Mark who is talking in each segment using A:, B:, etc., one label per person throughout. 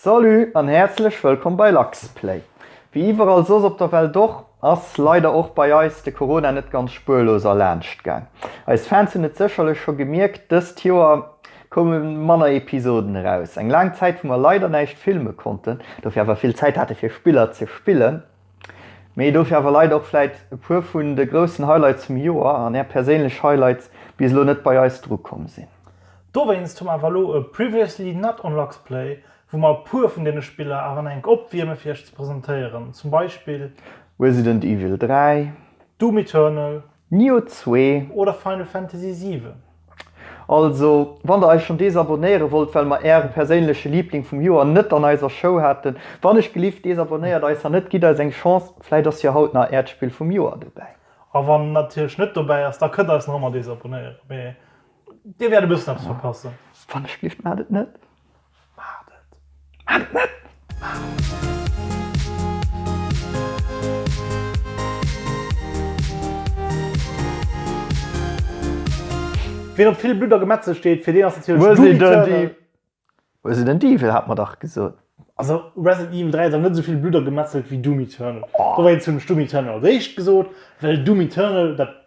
A: Salut an häerzlech wëllkomm bei LuxPlay. Wéi iwwerall soss op der Welt och, ass leider och bei eis de Corona net ganz spuerlos erlaanscht gaang. Eis Fans hunn et sécherlech scho gemierkt, dëst Joer koume manner Episoden eraus. Eng laang Zäit wou mer leider näischt filme konnten, dofir awer vill Zäit hate fir Spiller ze spillen. Mee dofir awer leit och vläit e puer vun de groussen Highlights vum Joer an är perséinlech Highlights bis elo net bei eis dru komm sinn. Dowéinst hu mer awer elo e Previously Not on Luxplay, wou mer e puer vun deene Spiller awer nach eng opwierme fir iech ze presentéieren, zum Beispill. Resident Evil 3. Doom Eternal. Nioh 2. Oder Final Fantasy 7. Also, wann der eis schon desabonnéieren wollt well mer ären perséinlechen Liebling vum Joer net an eiser Show haten, wannech gelift desabonnéiert eis an net gitt eis eng Chance, vläit ass jo haut nach ärt Spill vum Joer dobäi. A wann en natierlech net dobäi ass, da kënnt eis nach ëmmer desabonnéieren, mee dir wäert e bëssen eppes verpassen. Wannech gelift, maacht et net. Maacht et! Maacht et net! Ween op vill Blutt a Gemetzel steet, fir deen ass natierlech Doom Eternal. Resident Evil hat mer dach gesot. Also Resident Evil 3 huet awer net esou vill Blutt a Gemetzel wéi Doom Eternal. Dowéinst hunn ech Doom Eternal als éischt gesot, well Doom Eternal dat.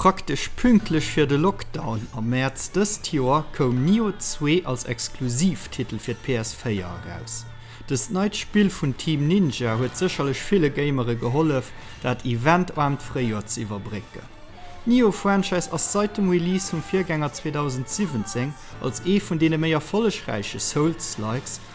A: Praktesch pünktlech fir de Lockdown am Mäerz dëst Joer koum Nioh 2 als Exklusivtitel fir d'PS 4 eraus. Dëst neit Spill vun Team Ninja huet sécherlech ville Gamere gehollef, dat eventarmt Fréijoer ze iwwerbrécken. D'Nioh-Franchise ass seit dem Release vum Virgänger 2017 als ee vun deene méi erfollegräiche Souls-likes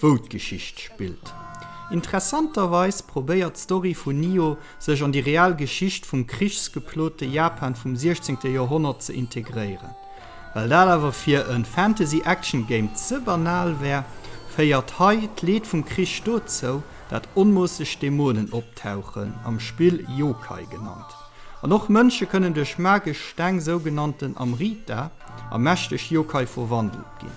A: wou d'Geschicht spillt. Interessanterweis probéiert d'Story vun Nio sech an déi real Geschicht vum krichsgeplote Japan vum 16. Joerhonnert ze integréieren. Well dat awer fir e Fantasy-Action-Game ze banal wär, féiert hei d'Leed vum Krich dozou, dat onmoosseg Dämonen optauchen, am Spill Yokai genannt. An och Mënsche kënnen duerch magesch Steng, sougenannten Amrita, a mächteg Yokai verwandelt ginn.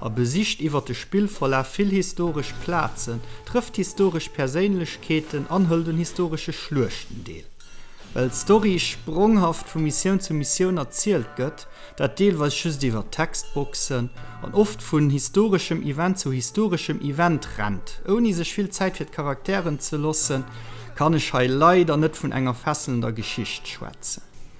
A: a besicht iwwer de Spillverlaf vill historesch Plazen, trëfft historesch Perséinlechkeeten an hëlt un historesche Schluechten deel. Well d'Story spronghaft vu Missioun zu Missioun erzielt gëtt, dat deelweis just iwwer Textboxen, an oft vun historeschem Event zu historeschem Event rennt, ouni sech vill Zäit fir d'Charakteren ze loossen, kann ech hei leider net vun enger fesselender Geschicht schwätzen.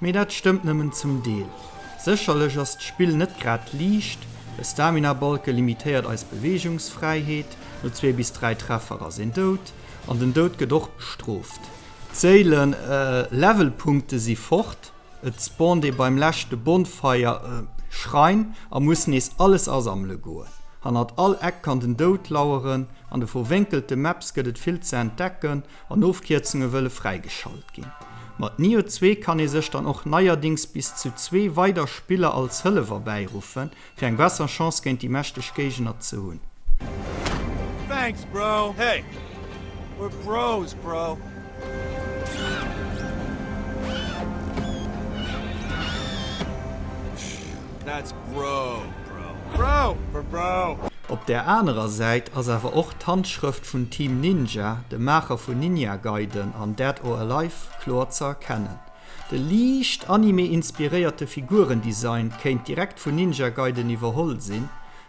A: Mee dat stëmmt nëmmen zum Deel. Sécherlech ass d'Spill net grad liicht, e Stamina-Balke limitéiert eis Beweegungsfräiheet, no zwee bis dräi Treffer ass een dout, an den Dout gëtt och bestrooft. D'Séilen, Levelpunkte, si fort, et spawnt ee beim leschte Bonfire, Schrein, a muss nees alles asammele goen. Hannert all Eck kann den Dout laueren, an de verwénkelte Maps gëtt et vill ze entdecken, an Ofkierzunge wëlle fräigeschalt ginn. Mat Nioh 2 kann ee sech dann och neierdings bis zu zwee weider Spiller als Hëllef erbäiruffe fir eng besser Chance géint déi mächteg Géigner ze hunn. Thanks bro, hey we're bros bro. Op där anerer Säit ass awer och d'Handschrëft vun Team Ninja, de Maacher vun Ninja Gaiden an Dead or Alive, kloer ze erkennen. De liicht Anime-inspiréierte Figuren-Design kéint direkt vun Ninja Gaiden iwwerholl sinn,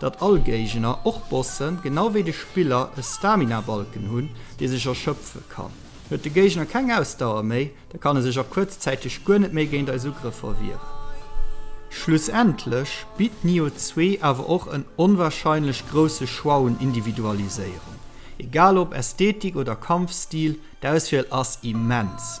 A: datt all Géigner, och Bossen, genau wéi de Spiller e Stamina-Balken hunn, dee sech erschöpfe kann. Huet de Géigner keng Ausdauer méi, da kann e sech a kuerzzäiteg guer net méi géint eis Ugrëffer wieren. Schlussendlech bitt Nioh zwee awer och en onwahrscheinlech grousse Choix un Individualiséierung. Egal ob Ästhetik oder Kampfstil, d'Auswiel ass immens.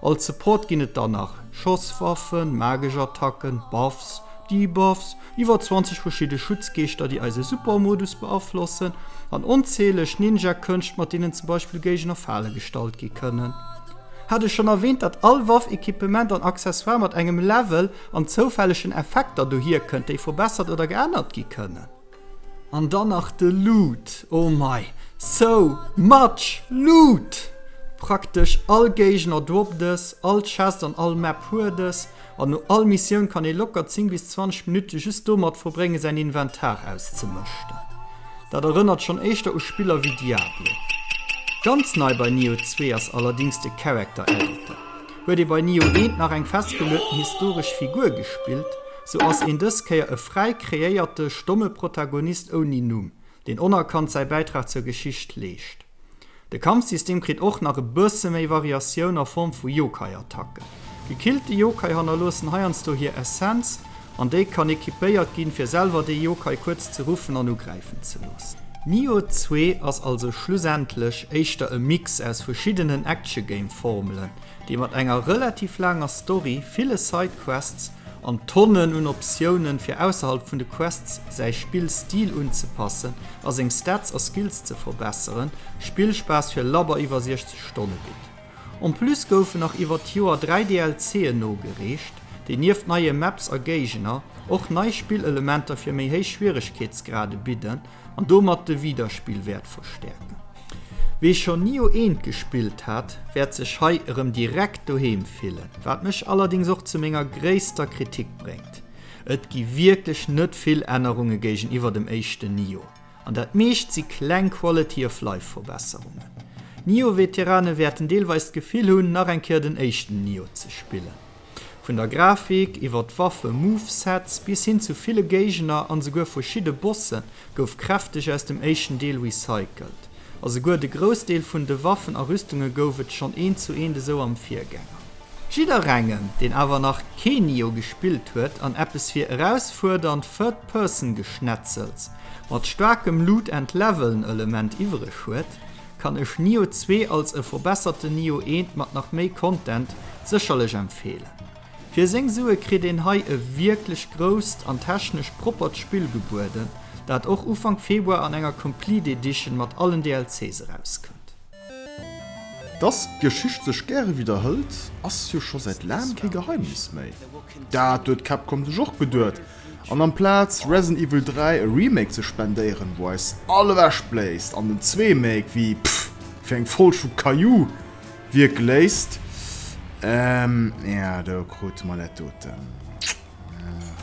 A: Als Support ginn et dann nach Schosswaffen, magesch Attacken, Buffs, Debuffs, iwwer 20 verschidde Schutzgeeschter déi eise Super-Modus beaflossen, an onzähleg Ninja-Kënscht mat deenen zum Beispill Géigner Fale gestallt gi kënnen. Hat ech schonn erwähnt dat all Waff, Equipement an Accessoire mat engem Level an zoufällegen Effekter dohier kënnt déi verbessert oder geännert gi kënnen? An dann nach de Loot, oh mei, so much loot! Praktesch all Géigner drop des, all Chest an all Map huet es, an no all Missioun kann ee locker 10 bis 20 Minutte just domat verbréngen säin Inventar auszemëschten. Dat erënnert schonn éischter u Spiller wéi Diablo. Ganz nei bei Nioh 2 ass allerdings de Character Editor. Huet ee bei Nioh 1 nach eng festgelueten historesch Figur gespillt, Sou ass een dës Kéier e fräi kreéierte, stomme Protagonist ouni Numm, deen onerkannt säi Bäitrag zur Geschicht leescht. De Kampfsystem kritt och nach e bësse méi Variatioun a Form vu Yokai-Attacken. Gekillte Yokai hannerloossen heiansdo hir Essenz, an déi kann equipéiert ginn, fir selwer dee Yokai kuerz ze ruffen an ugräifen ze loossen. Nioh 2 ass also schlussendlech éischter e Mix aus verschiddenen Action-Game-Formelen, dee mat enger relativ laanger Story, ville Side-Quests An Tonnen un Optiounen fir ausserhalb vun de Quests säi Spill Stil unzepassen a seng Stats a Skills ze verbesseren, Spillspaass fir labber iwwer 60 Stonne bitt. En plus goufen nach iwwer d'Joer 3 DLC'en nogereecht, déi nieft neie Maps a Géigner och nei Spillelementer fir méi héich Schwieregkeetsgrade bidden An domat de Widerspillwäert verstäerken. Wee schonn ni u eent gespillt hat, wäert sech hei erëm direkt doheem fillen, wat mech allerdéngs och zu menger gréisster Kritik bréngt, Et gi wierklech net vill Ännerunge géigeniwwer dem éischten Nioh, an dat meescht si kleng Quality-of-Life-Verbesserungen. Nioh-Veterane wäerten deelweis d'Gefill hunn, nach eng Kéier den éischten Nioh ze spillen. Vun der Grafik, iwwer d'Waffe, Movesets, bis hin zu ville Géigner an esouguer verschidde Bosse gouf kräfteg aus dem éischten Deel recycelt. A souguer de Groussdeel vun de Waffen a Rüstunge gouf et schonn eent zu eent esou am Virgänger. Jidderengem, deen awer nach kee Nioh gespillt huet an eppes fir erausfuerdernd Third-Person-Geschnetzels mat staarkem Loot-and-Leveln-Element iwwereg huet, kann ech Nioh 2 als e verbesserten Nioh 1 mat nach méi Content sécherlech empfeelen. Fir seng Sue kritt een hei e wierklech grousst an technesch proppert Spill gebueden, dat och Ufank Februar an enger Complete Edition mat allen DLCs erauskënnt. Dass d'Geschicht sech gäre widderhëlt, ass jo scho säit laangem kee Geheimnis méi. Dat huet Capcom sech och geduet. An amplaz Resident Evil 3 e Remake ze spendéieren, wou eis all ewech bléist, an den zwee Make wéi pff fir eng Folg vu Caillou wierke léisst, ehm ja do krute mer dat doten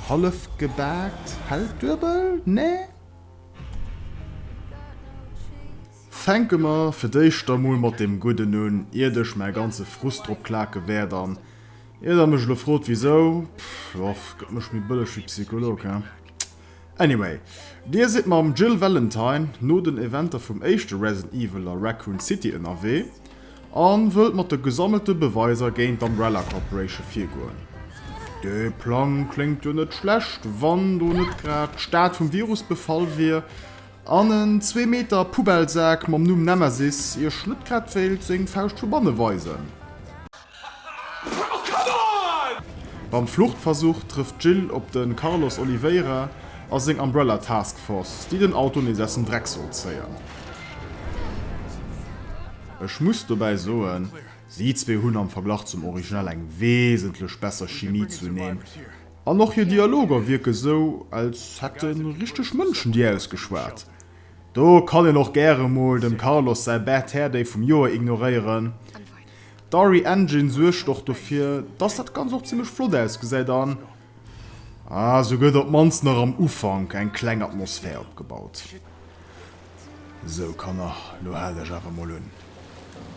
A: hallef gebaakt, hell duebel, nä? Fänke mer fir d'éischt emol mat deem Gudden un, iert ech mäi ganze Frust drop klake wäert an Ier der mech elo frot wisou, pff och gëtt mech méi bëlleg wéi Psycholog, he? Anyway, Dir sidd mam Jill Valentine no den Eventer vum éischte Resident Evil a Raccoon City ënnerwee a wëllt mat de gesammelte Beweiser géint d'Umbrella Corporation virgoen. Dee Plang kléngt jo net schlecht, wann do net grad d'Stad vum Virus befall wier an en zwee Meter Poubellsak mam Numm Nemesis Iech net grad wéilt seng Fauscht vu banne weisen. Beim Fluchtversuch trëfft d'Jill op de Carlos Oliveira a seng Umbrella Task Force, déi den Auto nees aus dem Dreck soll zéien. Ech muss dobäi soen, si zwee hunn am Verglach zum Original eng wesentlech besser Chimie zuneen an och hir Dialoger wierke sou, als hätte richteg Mënschen déi ausgeschwat. Do kann een och gäre mol dem Carlos säi Bad Hair Day vum Joer ignoréieren. D'Ari Engine suergt och dofir, dass dat Ganzt och zimmlech flott ausgesäit an se gëtt op d'mannst nach am Ufank eng kleng Atmosphär opgebaut. Sou Kanner, lo haalt iech awer mol un.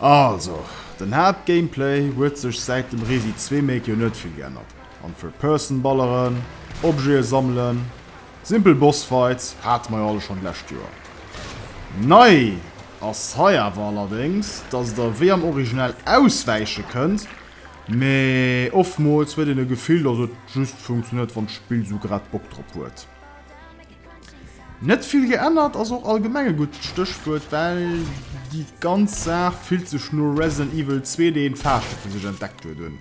A: Also, den Haaptgameplay huet sech säit dem Resi Zwee Make jo net vill geännert, an Third Person balleren, Objete sammelen, Simpel Boss Fights hate mer jo alle schon d'lescht Joer. Nei ass hei awer allerdéngs, dass der wéi am Original auswäiche kënnt, mee oftmools huet een e Gefill, dass et just funktionéiert wann d'Spill sou grad Bock drop huet. Net vill geännert ass och allgemeng e gutt Stéchwuert, well déi ganz Saach fillt sech no Resident Evil 2 deen d'Faasche fir sech entdeckt huet un.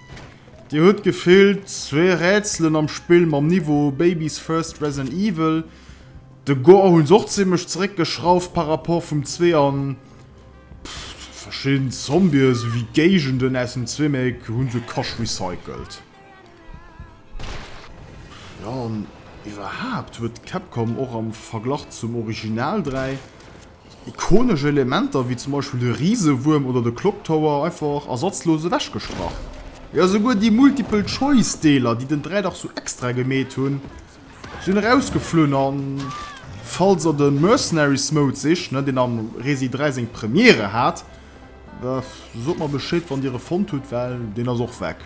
A: Dir hutt gefillt zwee Rätselen am Spill mam Niveau Baby's First Resident Evil. De Gore hunn se och zimlech zeréck geschrauft par rapport vum zwee an pff verschidden Zombie sou wéi Géigenden aus dem zwee Make hunn se Cash recycelt. Jo an iwwerhaapt huet Capcom och am Verglach zum Original 3 Ikonesch Elementer wéi zum Beispill de Risewuerm oder de Clock Tower einfach ersatzlos ewechgestrach. Jo souguer déi Multiple Choice Deeler déi den Dräi Dach sou extra gemeet hunn sinn erausgeflunn an falls der den Mercenaries Mode sicht, ne, deen am Resi 3 seng Premiere hat, da sot mer Bescheed wann dir e fonnt hutt well deen ass och weg.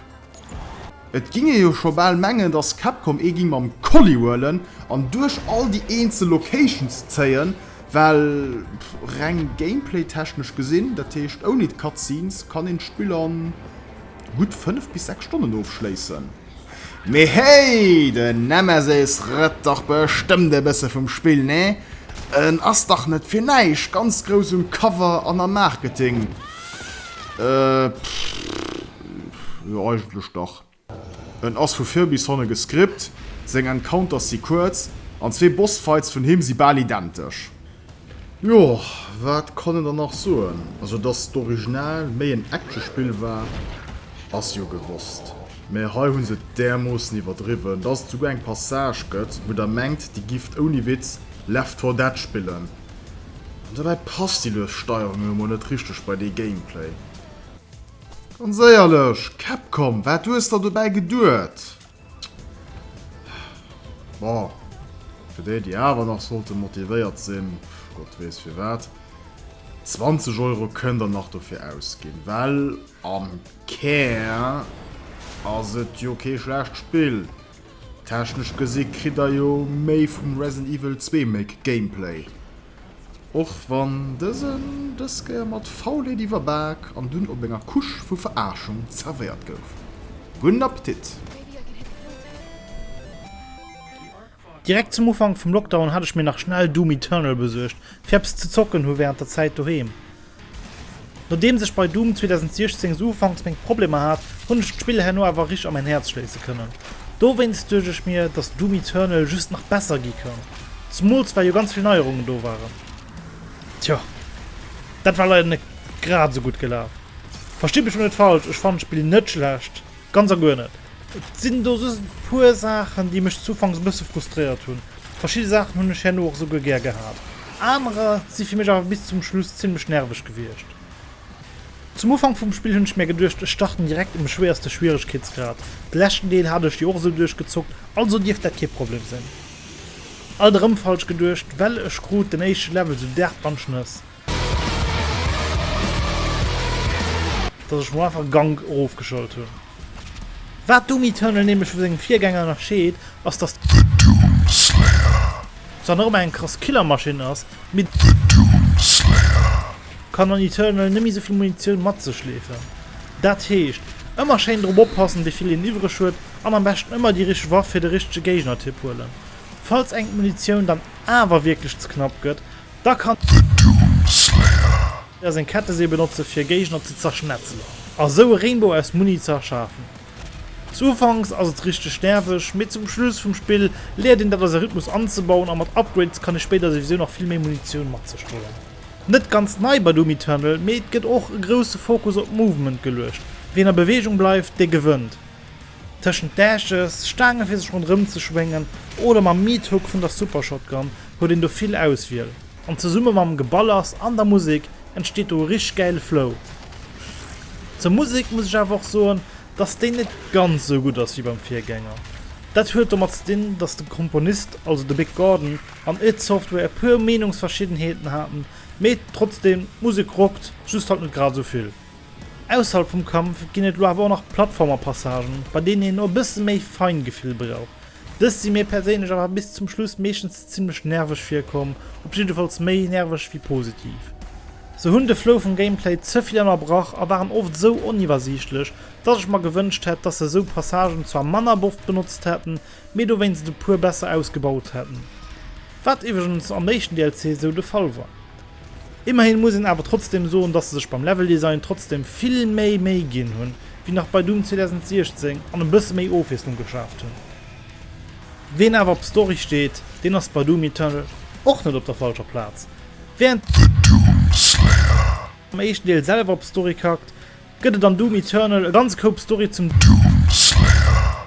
A: Et ging ee jo scho bal mengen dass Capcom ee ging mam Kolli huelen an duerch all déi eenzel Locations zéien, well reng Gameplay-technesch gesinn, dat heescht ouni d'Cutscenes, kann een d'Spill an gutt 5 bis 6 Stonnen ofschléissen. Mee hey, den Nemesis rëtt dach bestëmmt e bësse vum Spill, ne? En ass dach net fir näischt ganz grouss um Cover an am Marketing. Äh. Jo, eigentlech dach. En ass vu vir bis hanne gescript, seng Encounters si kuerz, an zwee Bossfights vun him si bal identesch. Jo, wat kann een dann nach soen? Also dass d'Original méi en Actionspill war, ass jo gewosst, mä hei hu se et därmoossen iwwerdriwwen, dass et souguer eng Passage gëtt, wou der mengt, dir gifft ouni Witz Left 4 Dead spillen. An dobäi passt déi lues Steierung emol net richteg bei dee Gameplay. Ganz éierlech, Capcom, wat hues der dobäi geduet? Bon, fir déi, déi awer nach sollte motivéiert sinn, Gott weess firwat, 20 Euro kënnt der nach dofir ausginn, well am Kär ass et jo kee schlecht Spill. Technesch gesi kritt der jo méi vum Resident Evil 2 make Gameplay, och wann dësen dës Kéier mat Faulheet iwwerbak an dunn op enger Couche vu Veraarschung zerwéiert gouf. Gudden Appetit! Direkt zum Ufank vum Lockdown hat ech mir nach schnell Doom Eternal besuergt fir eppes ze zocken, hu während der Zäit doheem Nodeems ech bei Doom 2016 sou ufanks meng Problemer hat, hunn ech d'Spill herno awer rich a mäin Häerz schléisse kënnen. Dowéinst duecht ech mir, dass Doom Eternal just nach besser gi kann, zumools well jo ganz vill Neierungen do waren. Tjo, dat war leider net grad sou gutt gelaf. Verstitt mech lo net falsch, ech fannen d'Spill net schlecht. Ganz a guer net. Et sinn do just e puer Saachen, déi mech ufanks e bësse frustréiert hunn. Verschidde Saachen hunn ech herno och esou guer gär gehat. Anerer si fir mech awer bis zum Schluss zimmlech nerveg gewiescht. Zum Ufank vum Spill hunn ech mär geduecht, ech starten direkt um schwéierste Schwieregkeetsgrad. De leschten Deel hat ech jo och esou duerchgezockt, also dierft dat kee Problem sinn. Alt erëm falsch geduecht, well ech krut den éischte Level sou derb an d'Schnëss. Dass ech mol einfach e Gank erofgeschalt hun. Waat Doom Eternal nämlech vu sengem Virgänger ënnerscheed ass dass The Doom Slayer zwar nach ëmmer eng krass Killermaschinn ass, mee The Doom Slayer kann an Eternal nemme souvill Munitioun matzechleefen. Daat heescht ëmmer schéin drop oppassen wéivill een iwwreg huet an am beschten ëmmer déi richteg Waff fir de richtege Géignertyp huelen. Falls engem d'Munitioun dann awer wierklech ze knapp gëtt, Da kann. The Doom Slayer. Ee seng Kettesee benotze fir Géigner ze zerschnetzelen a sou e Rainbow aus Muni ze erschafen. Zu Ufanks ass et richteg nerveg, mee zum Schluss vum Spill léiert een dat als e Rhythmus anzebauen a mat Upgrades kann ee spéider souwisou nach vill méi Munitioun mat sech huelen. Net ganz nei bei Doom Eternal, mee et gëtt och e grousse Fokus op Movement geluecht, wien a Beweegung bleift, dee gewënnt. Tëschent Dashes, Staange fir sech ronderëm ze schwéngen oder mam Meat Hook vun der Super Shotgun huet een do vill Auswiel. An zesumme mam Geballers an der Musek entsteet do e richteg gäile Flow. Zur Musek muss ech awer och soen, dass déi net ganz esou gutt ass wéi beim Virgänger. Dat huet domat ze dinn, dass de Komponist, also de Big Gordon an id Software e puer Meenungsverschiddenheeten haten, mee trotzdem, d'Musek rockt, just halt net grad esou vill. Ausserhalb vum Kampf ginn et elo awer och nach Plattformer-Passagen, bei deenen een och e bësse méi Feingefill brauch. Dës si mir perséinlech awer bis zum Schluss meeschtens zimmlech nerveg virkomm, op jiddefalls méi nerveg wéi positiv. Se hunn de Flow vum Gameplay ze vill ënnerbrach a waren oft sou oniwwersiichtlech, dass ech mer gewënscht hätt, dass se sou Passagen zwar manner boft benotzt hätten, mee dowéinst e puer besser ausgebaut hätten. Wat iwwregens am éischten DLC sou de Fall war. Immerhin muss een awer trotzdem soen, dass se sech beim Level Design trotzdem vill méi Méi ginn hunn, wéi nach bei Doom 2016 an e bësse méi Ofwiesslung geschaaft hunn. Ween awer op Story steet, deen ass bei Doom Eternal och net op der falscher Plaz. Wärend The Doomslayer am éischten Deel selwer op Story kackt, gëtt et an Doom Eternal e ganze Koup Story zum Doomslayer.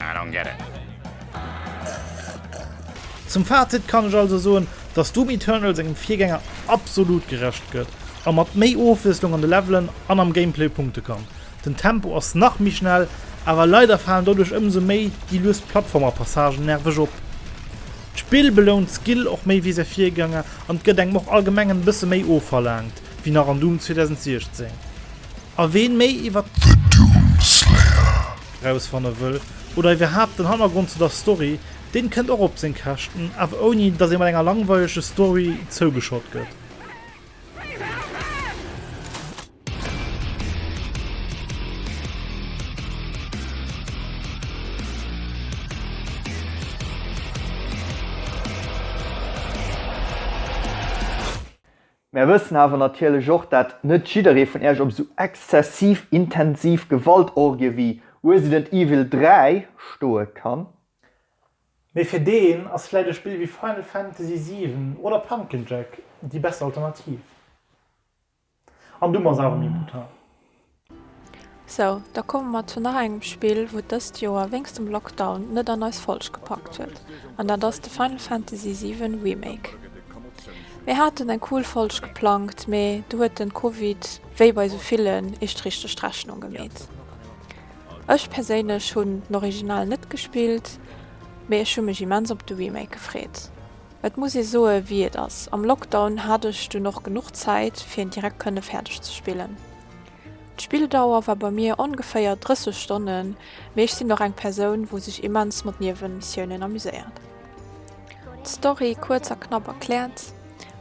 A: I don't get it. Zum Fazit kann ech also soen, dass Doom Eternal sengem Virgänger absolut gerecht gëtt a mat méi Ofwiesslung an de Levelen an am Gameplay punkte kann. Den Tempo ass nach méi schnell, awer leider falen doduerch ëmsou méi déi lues Plattformerpassagen nerveg op. D'Spill belount Skill och méi wéi säi Virgänger an gëtt engem och allgemeng en bësse méi ofverlaangt wéi nach an Doom 2016. A ween méi iwwer The Doom Slayer rausfanne wëll, oder iwwerhaapt den Hannergrond zu der Story, deen kënnt och op seng Käschten, awer ouni dass ee mat enger langweilege Story zougeschott gëtt. Mär wëssen awer natierlech och, dat net jidderee vun Iech op esou exzessiv intensiv Gewaltorgie wéi Resident Evil 3 stoe kann. Mee fir deen ass vläit e Spill wéi Final Fantasy 7 oder Pumpkin Jack déi besser Alternativ. An du machs awer méi brutal. Sou, da komme mer zu nach engem Spill, wou dëst Joer wéinst dem Lockdown net an eis Folg gepackt huet, an dat ass de Final Fantasy 7 Remake. Mir haten eng cool Folg geplangt, mee do huet den Covid, wéi bei sou villen, eescht richteg d'Rechnung gemeet. Ech perséinlech hunn den Original net gespillt, mee ech hu mech immens op de Remake gefreet. Et muss ee soe wéi et ass, am Lockdown hat ech dunn och genuch Zäit fir en direkt kënne fäerdeg ze spillen. D'Spilldauer war bei mir ongeféier 30 Stonnen, mee ech sinn och eng Persoun wou sech immens mat Niewenmissiounen amuséiert. D'Story kuerz a knapp erkläert,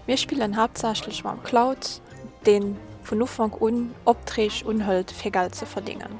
A: mir spillen haaptsächlech mam Cloud, deen vun Ufank un Optreeg unhëlt fir Geld ze verdéngen.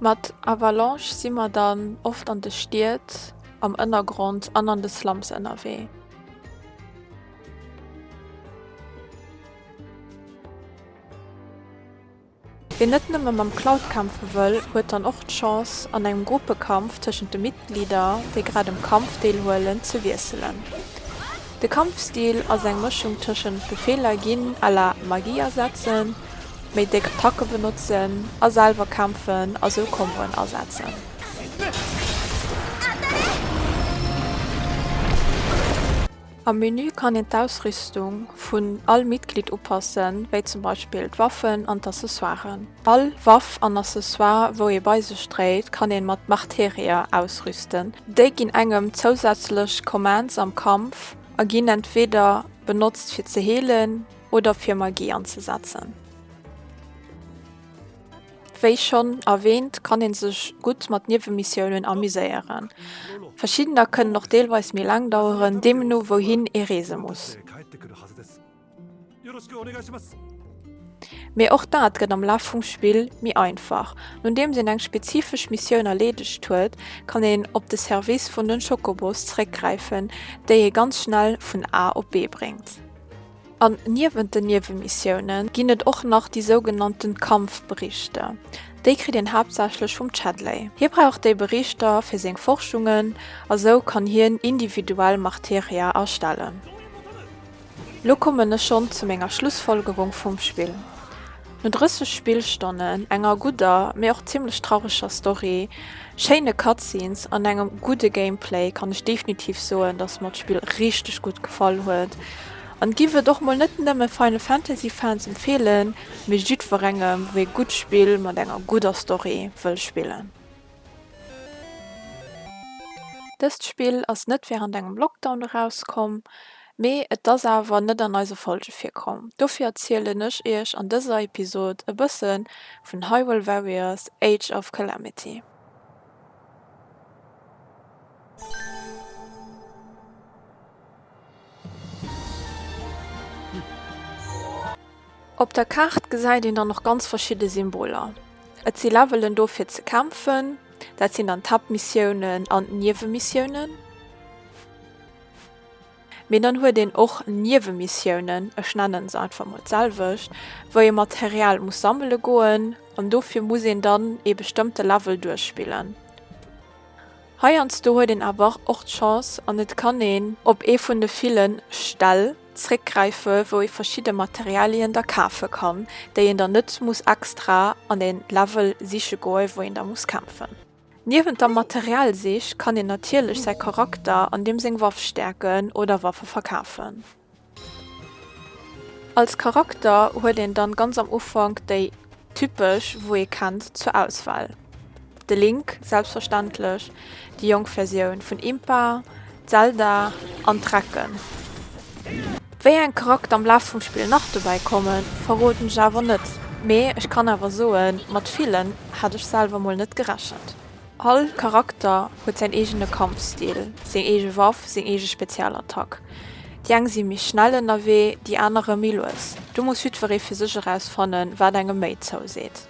A: Mat Avalanche si mer dann oft an de Stied, am Ënnergrond an an de Slums ënnerwee. Wien net nëmme mam Cloud kämpfe wëll, huet dann och d'Chance, an engem Gruppekampf tëschent de Mitglieder, déi grad um Kampf deelhuelen, ze wiesselen. De Kampfstil ass eng Mëschung tëschent Befeeler ginn à la Magie asetzen, méi déck Attacken benotzen a selwer kämpfen a sou Komboen asetzen. Am Menü kann een d'Ausrüstung vun all Mitglied upassen, wéi zum Beispill d'Waffen an d'Accessoiren. All Waff an Accessoire wou ee bei sech dréit kann een mat Marterier ausrüsten. Déi ginn engem zousätzlech Commands am Kampf a ginn entweeder benotzt fir ze heelen, oder fir Magie anzesetzen. Wéi schonn erwähnt kann een sech gutt mat Niewenmissiounen amuséieren. Verschiddener kënnen och deelweis méi laang daueren, deem no wouhin ee reese muss. Mee och dat gëtt am Laf vum Spill méi einfach. Nodeems een eng spezifesch Missioun erleedegt huet, kann een op de Service vun den Chocobos zeréckgräifen, déi ee ganz schnell vun A op B bréngt. An niewent den Niewemissionen ginn et och nach déi sougenannten Kampfberichter. Déi kritt een haaptsächlech vum Chadley. Hie brauch déi Berichter fir seng Forschungen a sou kann hien individuell Marteria erstellen. Lo kommen ech schonn zu menger Schlussfolgerung vum Spill. No 30 Spillstonnen, enger gudder, mee och zimmlech traureger Story, schéine Cutscenes an engem gudde Gameplay kann ech definitiv soen, dass mer d'Spill richteg gutt gefall huet an giff et och mol net nëmme Final Fantasy Fans empfeelen, mee jiddwerengem wou ee gutt Spill mat enger gudder Story wëll spillen. Dëst Spill ass net während engem Lockdown erauskomm, Mee et ass awer net an eise Folge virkomm, dofir erzielen ech iech an dëser Episod e bësse vun Hyrule Warriors, Age of Calamity. Op der Kaart gesäit een dann och ganz verschidde Symboler. Et si Levelen do fir ze kämpfen, dat sinn dann d'Haaptmissiounen an d'Niewemissioune. Mee dann huet een och Niewe-Missiounen, ech nennen se einfach mol d'selwecht, wou ee Material muss sammele goen, an dofir muss een dann ee bestëmmte Level duerchspillen. Heiansdo huet een awer och d'Chance an et kann een op ee vun de ville Ställ zréckgräife wou ee verschidde Materialien da kafe kann, déi een dann net muss extra an e Level siche goen, wou een da muss kämpfen. Niewent der Materialsich kann een natierlech säi Charakter an deem seng Waff stäerken oder Waffe verkafen. Als Charakter huet een dann ganz am Ufank déi typesch wou ee kennt zur Auswahl, de Link selbstverständlech, déi jonk Versioun vun Impa, Zelda an d'Recken. Wéi eng Charakter am Laf vum Spill nach dobäi kommen, verroden ech awer net, mee ech kann awer soen, mat villen hat ech selwer mol net gerechent. All Charakter huet säin eegene Kampfstil, seng eege Waff, seng eege Spezialattack. Déi eng si méi schnell ënnerwee, déi anerer méi lues. Do muss jiddweree fir sech erausfannen, wat engem méi zouseet.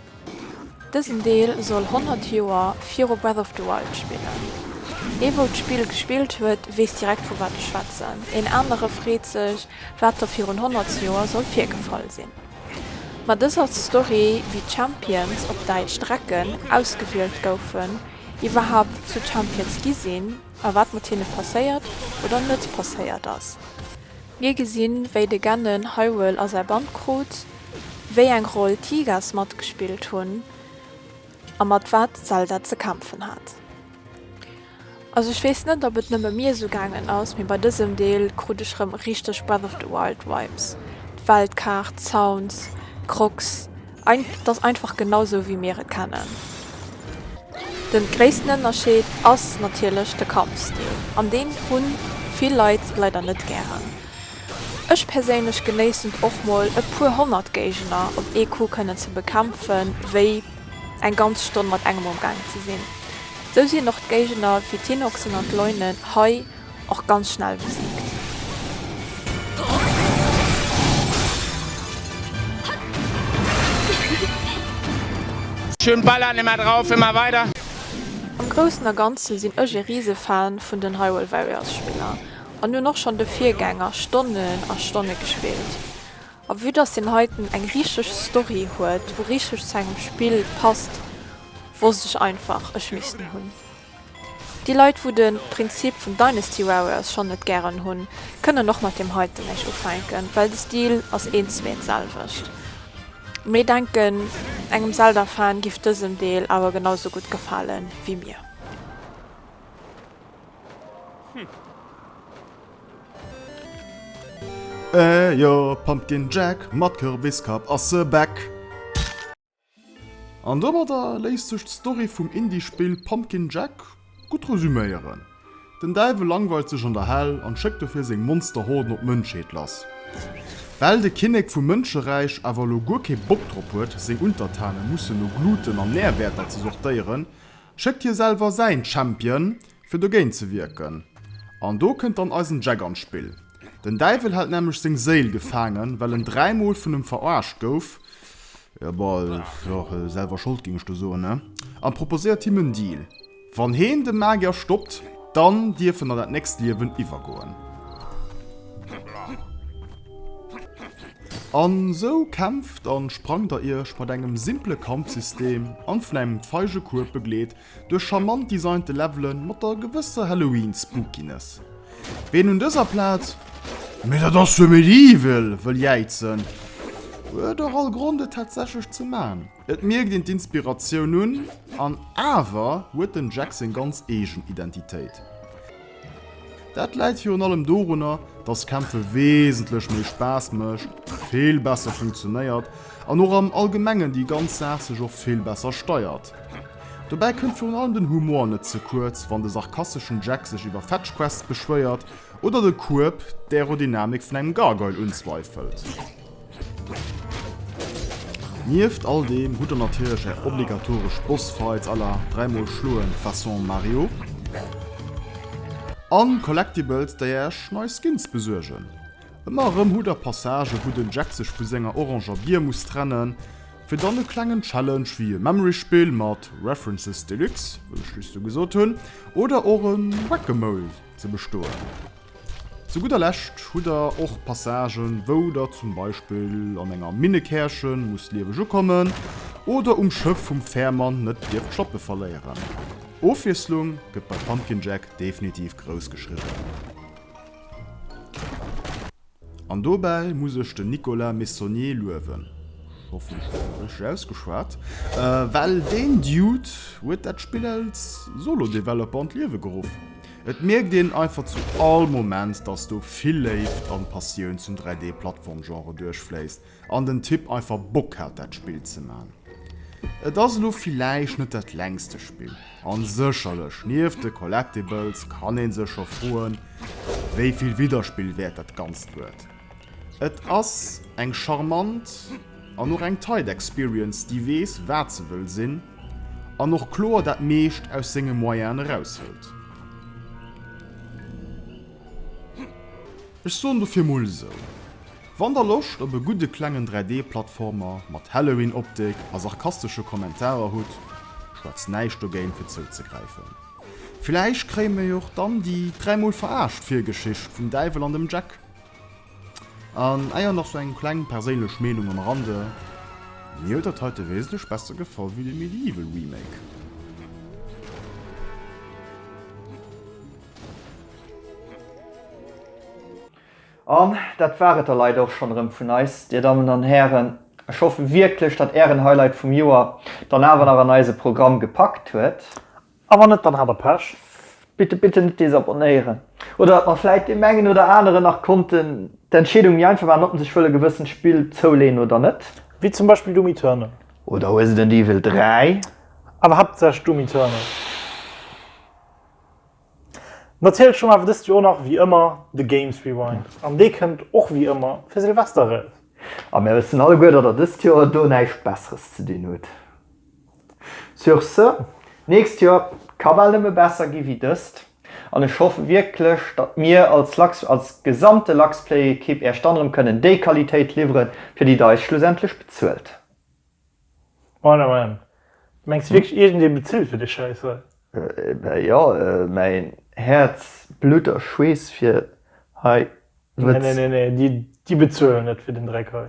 A: Dësen Deel soll 100 Joer viru Breath of the Wild spillen. Ee wou d'Spill gespillt huet, weess direkt vu wat ech schwätzen, een anere freet sech wat da virun 100 Joer soll virgefall sinn. Ma dës ass d'Story wéi d'Champions, op Däitsch Drecken, ausgewielt goufen, iwwerhaapt zu Champions gi sinn a wat mat hinne passéiert oder net passéiert ass. Mir gesinn, wéi de Gennen Hywel a säi Band krut, wéi eng Roll d'Hygas matgespillt hunn a mat wat d'Zelda ze kämpfen hat. Also ech weess net, ob et nëmme mir esou gaangen ass, mee bei dësem Deel krut ech rëm richteg Breath of the Wild Vibes, d'Weltkaart, d'Sounds, d'Grogs Ein, t'ass einfach genau sou wéi mir et kennen. Den gréissten Ënnerscheed ass natierlech de Kampfstil an deen hunn vill Leit leider net gären. Ech perséinlech genéissen et och mol e puer honnert Géigner op ee Coup kënnen ze bekämpfen wéi eng ganz Stonn mat engem um Gaang ze sinn. Sou sinn och d'Géigner wéi d'Hinoxen an d'Leunen hei. och ganz schnell besiegt. Schön ballern, immer drauf, immer weiter! Am groussen a ganzen sinn ech e riise Fan vun den Hyrule Warriors Spiller an hunn och schonn de Virgänger Stonnen a Stonne gespillt. A vue dass deen heiten eng richteg Story huet wou richteg zu engem Spill passt wosst ech einfach ech misst en hunn. Déi Leit wou den Prinzip vun Dynasty Warriors schon net gären hun, kënnen och mat deem heiten nech ufänken, well de Stil ass eens méi d'selwecht. Mee denken engem Zelda Fan giff dësen Deel awer genau sou gudd gefalen wéi mir. Ehh jo, Pumpkin Jack mat Kürbiskapp ass back! An domadder léisst sech d'Story vum Indie-Spill Pumpkin Jack gutt resuméieren, Den Däiwel langweilt sech an der Hell an schéckt dofir seng Monster-Horden op d'Mënschheet lass. Well de Kinnek vum Mënscheräich awer elo guer kee Bock drop huet, seng Untertane mussen no Gluten an Närwäerter ze sortéieren, schéckt hie selwer säin Champion, fir dogéint ze wierken. An do kënnt dann eisen Jack an d'Spill. Den Däiwel hält nämlech seng Séil gefaangen, well en dräi Mol vun em verarscht gouf, jo, selwer Schold géing ech do soen, a proposéiert him en Deal, Wann heen de Magier stoppt, dann dierf en an dat nächst Liewen iwwergoen. An esou kämpft an sprangt der iech mat engem simple Kampfsystem an vun engem feige Kueb begleet duerch charmant designte Levelen mat der gewësser Halloween-Spookiness. Ween un dëser Plaz Mee dat ass jo Medieval! wëll jäizen, huet och all Grond et tatsächlech ze man. Et mierkt een d'Inspiratioun un, an awer huet den Jack seng ganz eegen Identitéit. Dat läit virun allem dorunner, dass Kämpfe wesentlech méi Spaass mécht, vill besser funktionéiert an och am Allgemengen déi ganz Saach sech och vill besser steiert. Dobäi kënnt virun allem den Humor net ze kuerz, wann de sarkasteschen Jack sech iwwer Fetch Quests beschwéiert oder de Kueb d'Aerodynamik vun engem Gargoyle unzweifelt. Nieft all deem hutt der natierlech är obligatoresch Bossfights à la dräimol schloen façon Mario a Collectibles déi Äech nei Skins besuergen. Ëmmer erëm hutt der Passagë wou den Jack sech vu senger oranger Bier muss trennen, fir dann e klengen Challenge wéi e Memory Spill mat References Deluxe, wéi ech just esou gesot hunn, oder och e Whack-A-Mole ze bestoen. Zu gudder Lescht hutt der och Passagen, wou der zum Beispill an enger Minnekärche musst lieweg ukommen oder um Schëff vum Fährmann net dierft d'Schlappe verléieren. Ofwiesslung gëtt bei Pumpkin Jack definitiv grouss geschriwwen. An dobäi muss ech den Nicolas Meissonier luewen, ech hoffen ech hunn dat richteg ausgeschwat, well deen Dude huet dat Spill als Solo-Developer an d'Liewe geruff. Et mierkt een einfach zu all Moment, dass do vill Léift an Passioun zum 3D Plattform Genre duerchfléisst an den Typ einfach Bock hat dat Spill ze man. Et ass elo villäicht net dat längste Spill an sécherlech nieft de Collectibles kann een sech scho froen wéivill Widderspill wäert dat ganzt huet. Et ass eng charmant an och eng tight Experience, déi weess wat se wëll sinn an och kloer dat meescht aus senge Moyenen eraushëlt. Ech soen dofir mol esou, wann der Loscht op e gudde klengen 3D Plattformer mat Halloween Optik a sarkastesche Kommentarer hutt, schwätzt näischt dogéint fir zouzegräifen. Villäicht kréie mir jo och dann déi dräimol veraascht Virgeschicht vum Däiwel an dem Jack. An ah jo, nach sou eng kleng perséinlech Meenung am Rande, mir huet dat heite wesentlech besser gefall wéi de Medieval Remake. An dat war et da leider och schonn erëm vun eis, Dir Dammen an Hären. Ech hoffe wierklech, datt Ären Highlight vum Joer dann awer nach an eise Programm gepackt huet. A wann net, dann hat der Pech. Bitte bitte net desabonnéieren oder datt mer vläit deem engen oder aneren nach konnten d'Entscheedung méi einfach maachen, ob en sech wëll e gewëssent Spill zouleen oder net. Wéi zum Beispill Doom Eternal. Oder Resident Evil 3. Awer haaptsächlech Doom Eternal. Natierlech hu mer awer dëst Joer nach wéi ëmmer de Games Rewind an dee kënnt och wéi ëmmer fir Silvester eraus. A mir wëssen alleguer, datt der dëst Joer do näischt Besseres ze dinn hutt. Sur ce, d'nächst Joer ka bal nëmme besser gi wéi dëst, an ech hoffe wierklech, datt mir als Lux, als gesamte Luxplay-Ekipp Iech dann erëm kënnen déi Qualitéit liwweren, fir déi Der eis schlussendlech bezuelt. Meine Mann, mengs du wierklech iergendee bezilt fir dee Schäiss hei? Bah jo, mäin Häerz, Blutt a Schweess fir hei. Nee, nee, nee, nee, déi bezuelen net fir den Dreck hei.